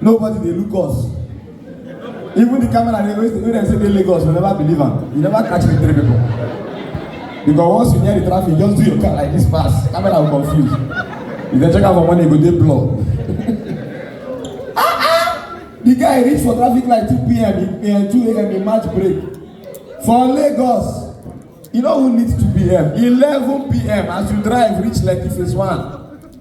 Nobody dey look us. Even the camera dey always wey dem say dey Lagos, we never believe am. You never catch the three people. Because once you near the traffic, just do your car like this fast. Camera will confuse. If dem check am for morning, e go dey blur. ah ah! The guy reach for traffic light 2 p.m. He, uh, 2 a.m. in March break. For Lagos, you know who needs 2 p.m. 11 p.m. as you drive reach Lekki phase 1.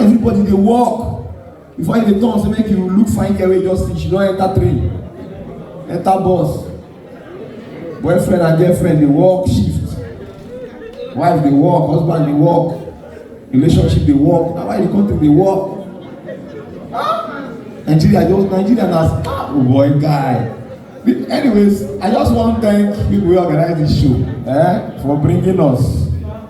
everybody dey work before you dey turn say make you look fine girl wey just finish you don enter train enter bus boyfriend and girlfriend dey work shift wife dey work husband dey work relationship dey work na why the country dey work nigeria just nigeria na ah oh boy guy anyways i just wan thank people wey organize this show eh, for bringing us.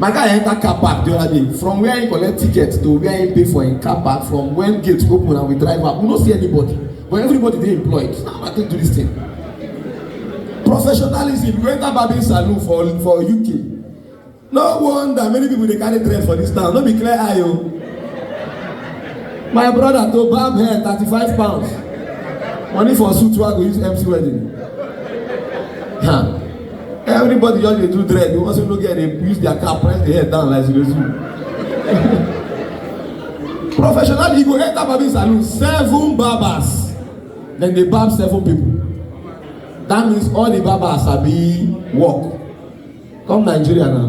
my guy enter car park the other day from where he collect ticket to where he pay for him car park from when gate open and we drive up we no see anybody but everybody dey employed so how i take do this thing professionalism you enter barbing salon for for uk no wonder many people dey carry dread for this town no be clear eye o my brother to barb hair thirty-five pounds money for suit wey i go use mc wedding. Huh. everybody just dey do dread the ones wey no get dey use their cap press the head down like zero zero professionally you go enter barbing salon seven barbers dem dey barb seven people that means all the barbers sabi work come nigeria now